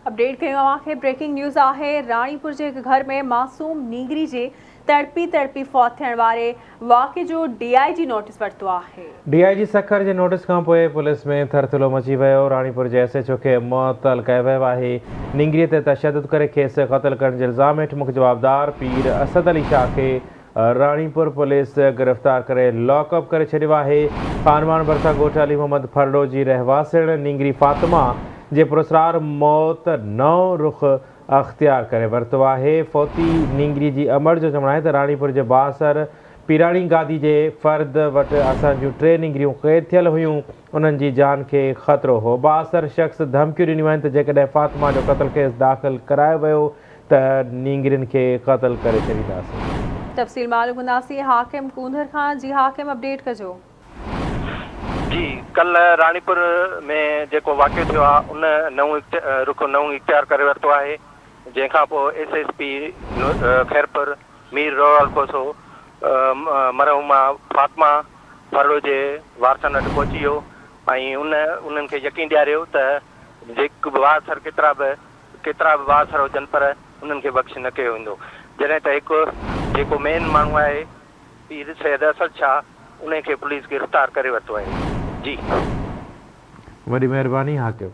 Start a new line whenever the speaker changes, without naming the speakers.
Update ڪيون اوهان کي بريڪنگ نيوز آهي راڻيپور جي هڪ گهر ۾ معصوم نينگري جي تڙپي تڙپي فوت ٿيڻ واري واقعي جو ڊي آء جي نوٽيس ورتو آهي. ڊي آء جي سکر جي
نوٽيس کانپوء پوليس ۾ ٿرٿلو مچي ويو، راڻيپور جي ايس ايڇ او کي معطل ڪيو ويو آهي، نينگري تي تشدد ڪري کيس قتل ڪرڻ جي الزام هيٺ مک جوابدار پير اسد علي شاهه کي راڻيپور پوليس گرفتار ڪري لاڪ اپ ڪري ڇڏيو آهي، خانواڻ ڀرسان ڳوٺ علي محمد ڦرڙو جي رهواسڻ نينگري فاطمه جي پراسرار موت نئون رخ اختيار ڪري ورتو آهي، فوتي نينگري جي امڙ جو چوڻ آهي ته راڻيپور جي بااثر پيراڻي گادي جي فرد وٽ اسان جون ٽي نينگريون قيد ٿيل هيون، انهن جي جان کي خطرو هو، بااثر شخص ڌمڪيون ڏنيون آهن ته جيڪڏهن فاطمه جو قتل ڪيس داخل ڪرايو ويو ته نينگرين کي قتل ڪري ڇڏينداسين. تفصيل معلوم
ڪنداسين حاڪم ڪونڌر کان جي حاڪم اپڊيٽ ڪجو.
جي ڪلهه راڻيپور ۾ جيڪو واقعو ٿيو آهي ان نئون رخ نئون اختيار ڪري ورتو آهي جنهن کان پوء S S P Khairpur Mir Rohal Kosso مرحومه فاطمه ڦرڙو جي وارثن وٽ پهچي ويو ۽ انهن کي يقين ڏياريو ته جيڪ وار سر ڪيترا به ڪيترا به بااثر هجن پر انهن کي بخش نه ڪيو ويندو جڏهن ته هڪ جيڪو مين ماڻهو آهي پير سيد اسد شاهه انهي کي پوليس گرفتار ڪري ورتو آهي جي. وڏي
مهرباني
حاڪم.